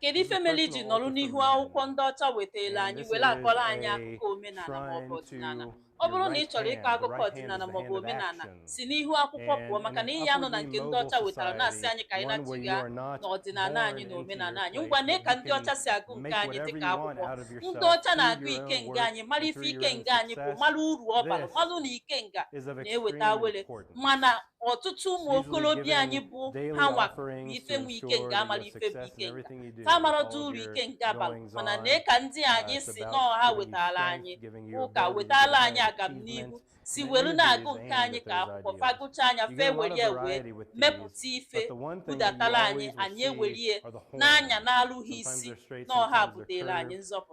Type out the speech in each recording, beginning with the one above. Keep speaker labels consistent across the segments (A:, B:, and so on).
A: Kedu ife
B: mere iji nọrọ n'ihu akwụkwọ ndị ọcha wetaela anyị were akọrọ anyị akụkọ omenala maọbụ ọdịnala ọ bụrụ na ị chọrọ ịkọ akụkọ ọdịnala maọbụ omenala si n'ihu akwụkwọ pụọ maka na ị ya-anọ na nke ndị ọcha wetara na-asị anyị ka anyị nachigha n'ọdịnala anyị na omenala anyị ngwa nee ka ndị ọcha si agụ nke anyị dịka akwụkwọ ndị ọcha na-agụ ikenga anyị mara ife ikenga anyị bụ mara uru ọ bara malụ na ikenga na-eweta awere mana ọtụtụ ụmụ okorobịa anyị bụ ha nwa bụ ife nwe ikenga amara ife bụ ikenga ha marọdụ uru ikenga bara mana nee ka ndị anyị sị na ọ ha wetara anyị ụka wetara anyị agamnihu si welu na-agụ nke anyị ka akwụkwọ fa gụchaa nya fa ewere ya wee mepụta ife budatara anyị anyị ewere ya n'anya na-alụghị isi na ọ ha butere anyị nzọpụta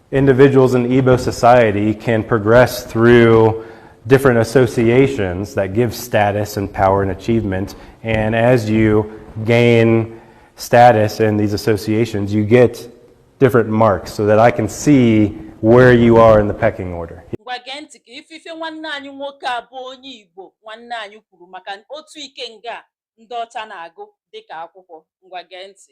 A: Individuals in Igbo society can progress through different associations that give status and power and achievement. And as you gain status in these associations, you get different marks so that I can see where you are in the pecking order. ngwa gee ntị ka ị
B: fụ ife nwanne anyị nwoke a bụ onye igbo nwanne anyị kwuru maka otu ikenga ndị ọcha na-agụ dịka akwụkwọ ngwa gee ntị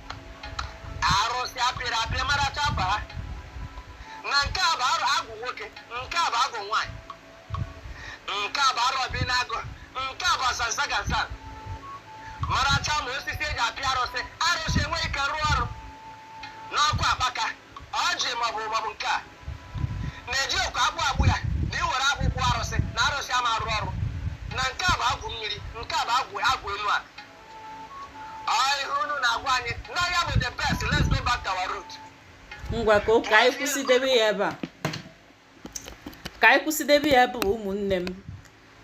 C: arụsị a pịrị apị maracha ba ha na nke a bụ arụ agwụ nwoke nke a bụ agwụ nwaanyị nke a bụ arọbịnagụ nke a bụ asansa gasa maracha ma osisi e ji apị arụsị arụsị enweghị ike rụọ ọrụ n'ọkụ akpaka ọjị maọbụ maọbụ nke a na-eji okwu agbụ agbụ ya na iwere agbụgbụ arụsị na arụsị ama arụ ọrụ na nke a bụ agwụ mmiri nke a bụ agwụ elu a ngwa
B: ka ka anyị kwụsịdebe ya ebe a ka anyị kwụsịdebe ya ebe ụmụnne m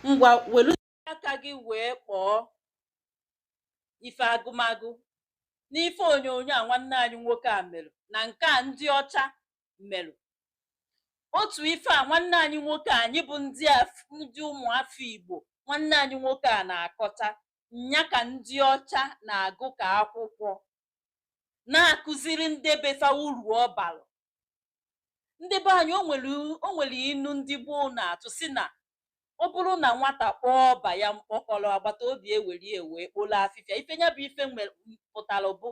B: ngwa welu aka gị wee kpọọ ife agụmagụ n'ife onyonyo a nwanne anyị nwoke a merụ na nke a ndị ọcha merụ otu ife a nwanne anyị nwoke anyị bụ ndị ụmụafọ igbo nwanne anyị nwoke a na-akọcha nya ka ndị ọcha na-agụ ka akwụkwọ na-akụziri ndị befa uru ọ balụ ndị be anyị o nwere inu ndị gboo na-atụ sị na ọ bụrụ na nwata kpọọ ọba ya mkpọkọrọ agbata obi ewere ya wee kpolo afịfịa ife ya bụ ife pụtara bụ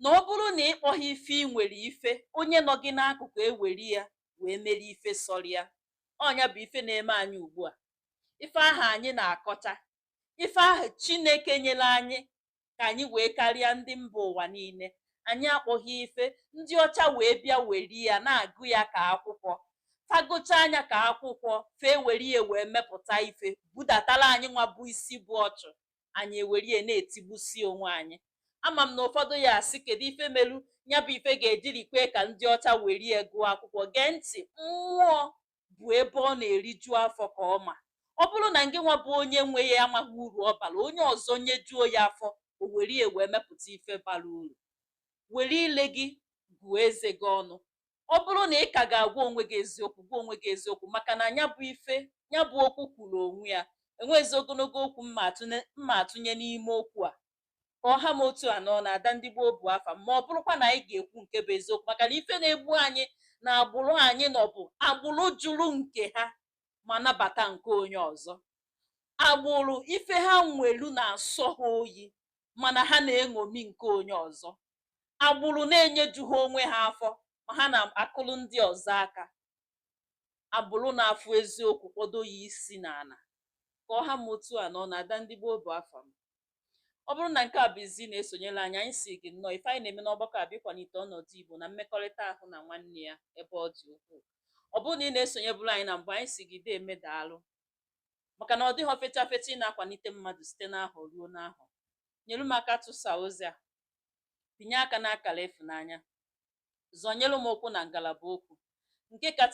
B: na ọ bụrụ na ị kpọghị ife ị nwere ife onye nọ gị n'akụkụ ewere ya wee mere ife sọrọ ya ọ nya bụ ife na-eme anyị ugbu a ife ahụ anyị na-akọcha ife ahụ chineke nyere anyị ka anyị wee karịa ndị mba ụwa niile anyị akpọghị ife ndị ọcha wee bịa weri ya na-agụ ya ka akwụkwọ fa gụchaa nya ka akwụkwọ fe eweri ya wee mepụta ife budatara anyị nwa bụ isi bụ ọchụ anyị eweri ya na-etigbusi onwe anyị ama m na ụfọdụ ya-asị kedu ife melu nya bụ ife ga-ejiri kwee ka ndị ọcha weri ya gụọ akwụkwọ gee ntị mmụọ bụ ebe ọ na-eriju afọ ka ọ ma ọ bụrụ na ngị nwa bụ onye nwe ya amaghị uru ọ bara onye ọzọ nyejuo ya afọ o were ya wee mepụta ife bara uru were ile gị gụọ eze gị ọnụ ọ bụrụ na ị ka ga-agwa onwe gị eziokwu gwa onwe gị eziokwu maka na nya bụ ife nya bụ okwu kwuru onwe ya enweghịzi ogologo okwu m ma-atụnye n'ime okwu a ka ọ ha m otu a n'ọnụ ada ndị gboo bụ afa m ma ọ bụrụkwa na anyị ga-ekwu nke bụ eziokwu maka na ife na-egbu anyị na agbụrụ anyị nọ bụ agbụrụ jụrụ nke ha ma nabata nke onye ọzọ agbụrụ ife ha nwelu na-asọ ha oyi mana ha na-eṅomi nke onye ọzọ agbụrụ na-enyejuha onwe ha afọ ma ha na-akụrụ ndị ọzọ aka agbụrụ na-afụ eziokwu kpọdo ya isi n'ala ka ọ ha m otu a n'ọnụ ada ndị gboo bụ afa m ọ bụrụ na nke a bụ izizi ị na-esonyere anyị anyị si gị nnọọ ife anyị na-eme n'ọgbakọ a bụ ịkwalite ọnọdụ Igbo na mmekọrịta ahụ na nwanne ya ebe ọ dị ukwuu ọ bụrụ na ị na-esonyeburu anyị na mbụ anyị si gị deeme daalụ maka na ọ dịghị fecha fecha ị na-akwalite mmadụ site n'ahọ ruo n'ahọ nyere m aka tụsa ozi a pịnye aka n'akara ịfụnanya zọnyere m okwu na ngalaba okwu nke kacha